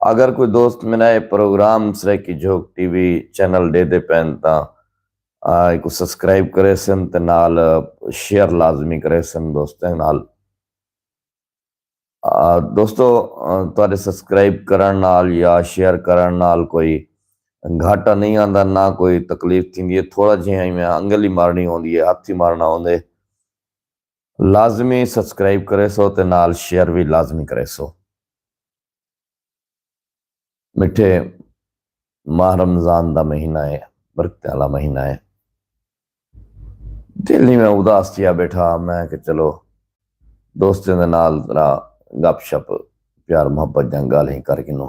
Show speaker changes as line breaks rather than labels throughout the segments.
اگر کوئی دوست مینا اے program Saraiki Jhok TV channel ڈے دے پین تاں ایکو سبسکرائب کرے سن تے نال شیئر لازمی کرے سن دوستیں نال دوستو تہاڈے سبسکرائب کرن نال یا شیئر کرن نال کوئی گھاٹا نہیں آندا نہ کوئی تکلیف تھیندی ہے تھوڑا جہاں میں انگل ہی مارنی ہوندی ہے ہاتھ ہی مارنا ہوندے لازمی سبسکرائب کریسو تے نال شیئر وی لازمی کریسو مٹھے ماہ رمضان دا مہینہ ہے برکتیں والا مہینہ ہے دل ہی میں اداس تھیا بیٹھا میں کہ چلو دوستوں دے نال ذرا گپ شپ پیار محبت جنگ گالیں کر گنو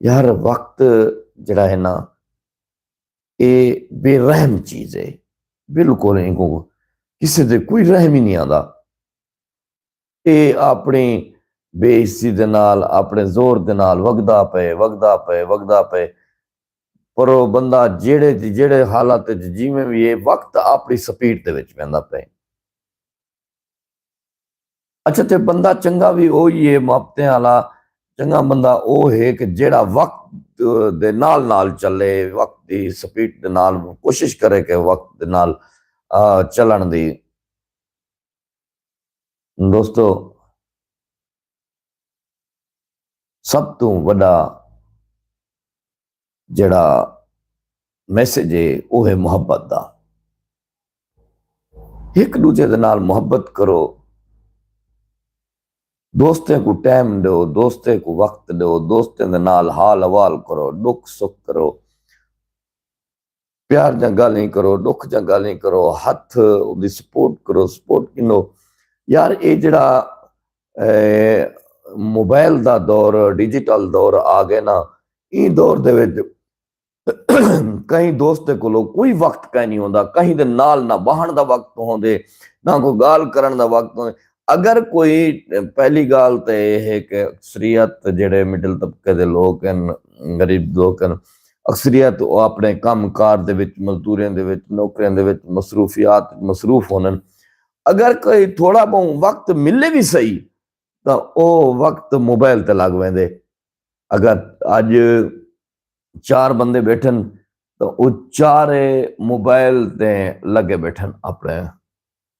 یار وقت جڑا ہے نا اے بے رحم چیز ہے بالکل ان کو کسی دے کوئی رحم ہی نہیں آتا اے اپنی بے عزتی دے نال اپنے زور دے نال وگدا پے وگدا پے وگدا پے پر او بندہ جیڑے جیڑے حالات جیویں بھی ہے وقت اپنی سپیڈ دے وچ ویندا پے اچھا تے بندہ چنگا بھی اوہی ہے محبتیں والا چنگا بندہ او ہے کہ جیڑا وقت دے نال نال چلے وقت دی سپیڈ دے نال کوشش کرے کہ وقت دے نال چلن دی دوستو سب تو وڈا جیڑھا میسج ہے وہ ہے محبت دا ایک دوجے دے نال محبت کرو دوستیں کو ٹائم دیو دوستیں کو وقت دیو دوستیں دے نال حال حوال کرو ڈکھ سکھ کرو پیار دیاں گالھیں کرو ڈکھ دیاں گالھیں کرو ہتھ اوندی سپورٹ کرو سپورٹ گھنو یار اے جڑا موبائل دا دور ڈیجیٹل دور آ گئے نا ایں دور دے وچ کہیں دوست کولو کوئی وقت کائنی ہوندا کہیں دے نال نہ بہن دا وقت ہوندے نہ کوئی گال کرن دا وقت ہوندے اگر کوئی پہلی گال تے اے ہے کہ اکثریت جیڑھے مڈل طبقے دے لوک ہن غریب لوک ہن اکثریت او اپنے کم کار دے وچ مزدوریاں دے وچ نوکریاں دے وچ مصروفیات مصروف ہونن اگر کوئی تھوڑا بہوں وقت ملے وی سہی تاں او وقت موبائل تے لگ ویندے اگر اج چار بندے بیٹھن تاں او چارے موبائل تے لگے بیٹھن اپنے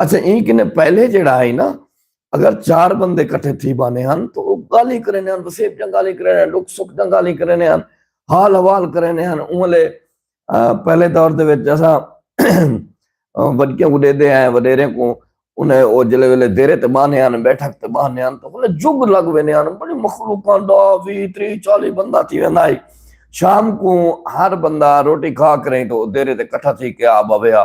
اچھا این کنے پہلے جڑا ہے نا اگر چار بندے کٹھے تھی بانے ہن تو وہ گالی کرنے ہن وسیب جن گالی کرنے ہن لوگ سکھ جن گالی کرنے ہن حال حوال کرنے ہن انہوں لے پہلے دور دے ویچ جیسا ودکیوں کو دے دے ہیں ودیرے کو انہیں وہ جلے ویلے دیرے تے بانے ہن بیٹھک تے بانے ہن تو انہیں جگ لگ وینے ہن بڑی مخلوقان دا وی تری چالی بندہ تھی وینے آئی شام کو ہر بندہ روٹی کھا کریں تو دیرے تے کٹھا تھی کہ آبا ویا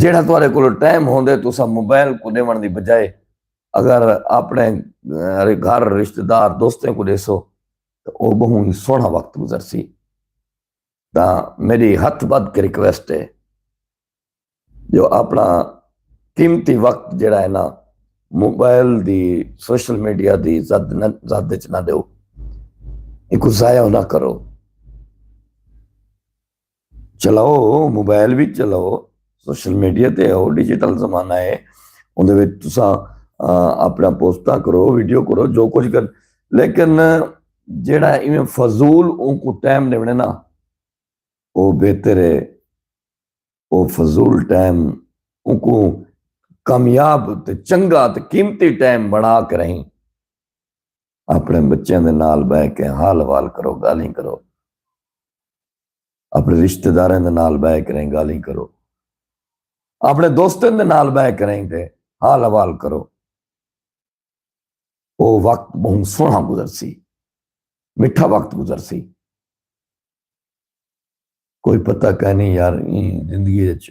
جیڑھا تہاڈے کولو ٹائم ہوندے تساں موبائل کوں ڈیوݨ دی بجائے اگر اپݨے گھر رشتہ دار دوستیں کوں ڈیسو تاں او ٻہوں ہی سوہݨا وقت گزرسی تاں میݙی ہتھ ٻدھ کے ریکویسٹ ہے جو اپݨا قیمتی وقت جیڑھا ہے نا موبائل دی سوشل میڈیا دی زد نہ زد وچ نہ ݙیو ایکوں ضائع نہ کرو۔ چلاؤ موبائل بھی چلاؤ سوشل میڈیا تے ہو ڈیجیٹل زمانہ ہے اندر وچ تساں اپنا پوسٹاں کرو ویڈیو کرو جو کچھ کر لیکن جیڑا ایویں فضول اون کو ٹائم دے ونے نا او بہتر ہے او فضول ٹائم اون کو کامیاب تے چنگا تے قیمتی ٹائم بنا کر رہیں اپݨے بچیاں دے نال ٻہہ کے حال احوال کرو ڳالھیں کرو اپݨے رشتہ داراں دے نال ٻہہ کریں ڳالھیں کرو اپݨے دوستاں دے نال ٻہہ کریں تے حال احوال کرو او وقت بہوں سوہݨا گزر سی مٹھا وقت گزر سی کوئی پتہ کہنی یار زندگی وچ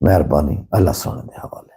مہربانی اللہ سونے دے حوالے